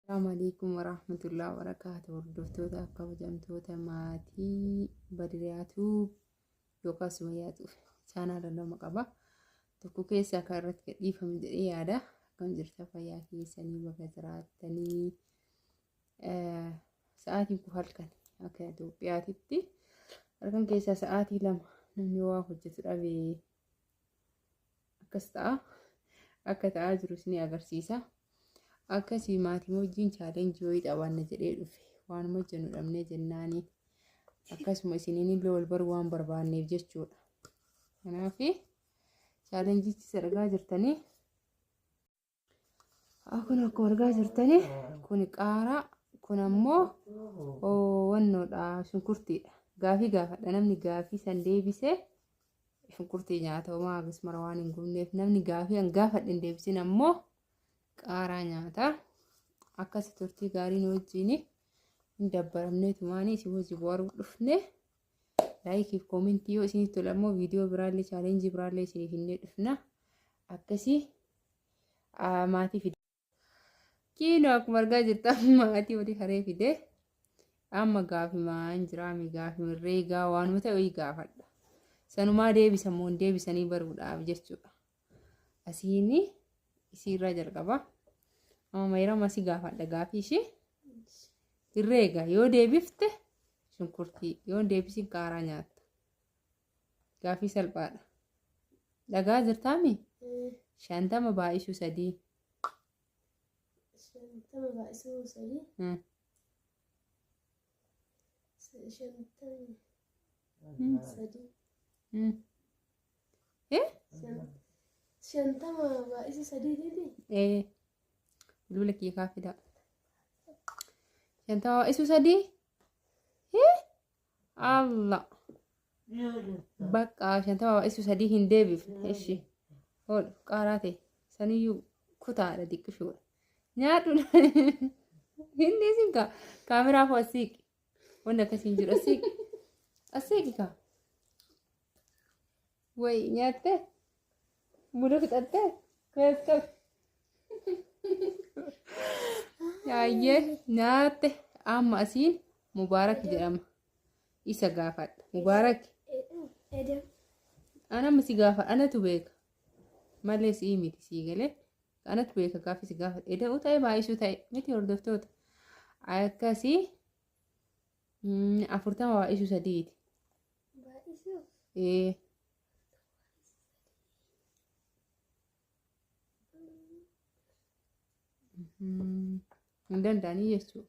Assalamu alaikum warahmatullahi wabarakatuh. Hordoftoota kabajamtoota maatii Badiriyaatu yookaan Sumayyaatu chaanaala lama qaba. Tokko keessa akka irratti gadhiifamu jedhee yaada. Akkam jirta fayyaa keessanii bakka jiraattanii eh, sa'aatiin kun halkan akka Itoophiyaatitti halkan keessaa sa'aatii lama namni waa hojjetu dhabee akkas ta'a akka ta'aa jiru isin agarsiisa akkasii maatii wajjin chaalenjii wayii qabaanna jedhee dhufe waanuma hojjennu dhabnee jennaaniin akkasuma isiniin illee wal baruu waan barbaanneef jechuudha kanaaf chaalenjichi sadarkaa jirtanii Kun akkuma argaa jirtani kun qaaraa kun ammoo wannoodha shunkurtiidha. Gaafii gaafadha namni gaafii san deebisee shunkurtii nyaata homaa akkasumara waan hin gubneef namni gaafii an gaafadhe hin deebisin ammoo qaaraa nyaata. Akkasi turtii gaarii nu wajjin hin dabbaramneetu maanii isin wajjin bohaaruu dhufne. laayikiif koomentii yoo isinitti tole ammoo viidiyoo biraallee chaalenjii biraallee isiniif hinnee dhufna akkasii maatii fide kiinoo akkuma argaa jirtu amma maatii olii haree fide amma gaafimaa hin jiraame gaafima reegaa waanuma ta'e wayii gaafadha sanumaa deebisamoo hin deebisanii baruudhaaf jechuudha asiin isii irraa jalqaba amma mayrama si gaafadha gaafii ishee dirree egaa yoo deebifte shunkurtii yoo deebisin qaaraa nyaatta gaafii salphaadha dhagaa jirtaami shantama baay'isuu sadii Shantama baay'isuu sadii. Hmm. Shantama baay'isa sadii didi. Ee. Bilbila kiyya kaa fidaa. Shantama baay'isu sadii. Hee? Allah. Bakka shantama baay'isu sadii hin deebifne. Ishi. Oolu qaaraa ta'e. Saniyyuu kutaadha diqqishoodha. Nyaadhu hin dhiisin kaa. Kaameraa koo asiiqi. Wanni akkasii hin jiru asiiqi. Asiiqi kaa. Wayi nyaattee? Muda fixattee? Kees qabi. Yaayyee nyaatte amma asiin mubaarak jedhama. isa gaafadha mubaarak anama si gaafa anatu beeka malee sii miti sii galee anatu beeka gaafi si gaafa eda'u ta'e baay'isuu ta'e miti hordoftoota akkasii afurtama baay'isuu sadiiti ee hin danda'anii jechuudha.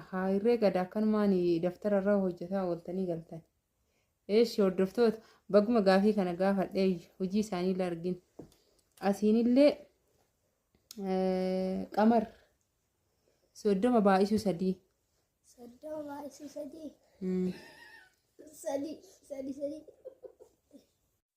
Ahaa irree gada akkanumaan daftara irra hojjetaa ooltanii galtan. Eeshi hordoftoota baguma gaafii kana gaafadhee hojii isaanii illee argin. Asiinillee eh, qamar soddoma baay'isuu sadii. Soddoma baay'isuu sadii. Mm. Sadii. Sadii sadii.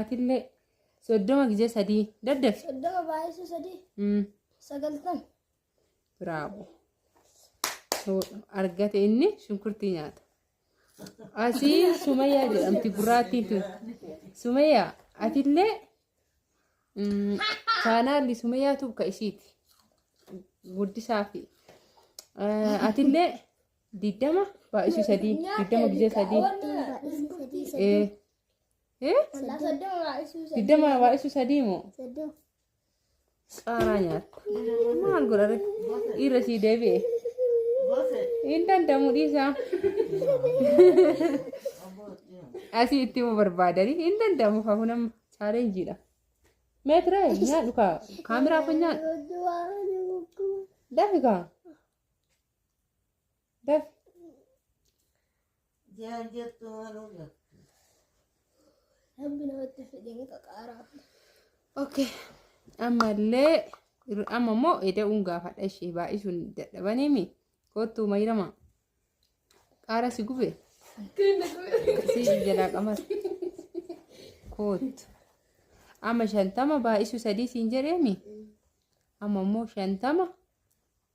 Atillee soddoma gizee sadii daddafi. Soddoma baay'isuu sadii Mm, sagaltan. Bravo. So, argate inni shunkurtii nyaata. Asii Sumayyaa jedhamti gurraattiin tun. Sumayyaa atillee mm, chaanaalli Sumayyaa tuuka ishiiti. Guddisaa fi eh, atillee digdama baay'isuu sadii digdama gizee sadii ee ee digdama baay'isuu sadii moo qaaraa nyaattu maal godha rek dhiirra sii deebi'e hin danda'amu dhiisaa asii itti himuu barbaadanii hin danda'amu fahu nama chaalenjiidha meetira nyaadhu kaa kaameraa kun nyaadhu dafi kaa Baf. Jaan jettu haaluu jettu. Rabbi namatti fedhee qaqaaraa. Okay. Ammallee irra- amma immoo eda'uun gaafadha ishee baay'isuun dadhabaniimi. Kottuu mayrama. Qaara si gube. Si jalaa qamas. Kottu. Amma shantama baay'isuu sadii siin jedheemi. Amma immoo shantama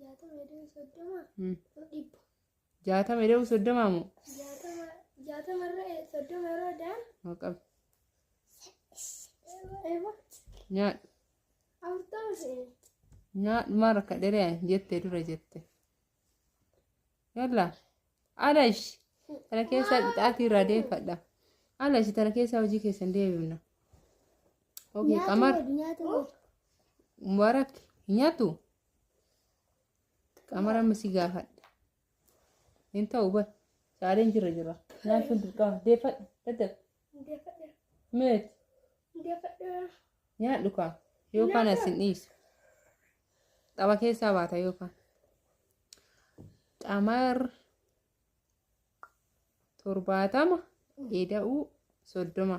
jaatama iddoo soddoma Mm. dhibba jaatama ida'u soddomaa moo jaatama jaatama irra soddoma irra daan Haa qabu eeba nyaadhu afurtama seene nyaadhu maa rakka dheree jette dura jette yalla alash tana keessaa qixaatii irraa deeffadha alash tana keessaa hojii keessan deebifna ok qamar nyaata mubarak hin nyaatu Qamara amma si gaafadha. Hin ta'u bar. Saaleen jira jira. Naan sun dirqama. Deeffadha. Daddafa. Meet. Nyaadhu kaa. Yookaan as hin dhiisu. Xaba keessaa baata yookaan. Qamar torbaatama eda'uu soddoma.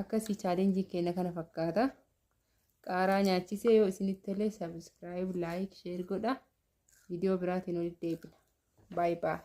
akkasii chaalenjiin keenya kana fakkaata qaaraa nyaachisee yoo isinitti tolee sabiskiraayib laayik sheer godha viidiyoo biraatiin walitti deebina baay'ee baay'ee.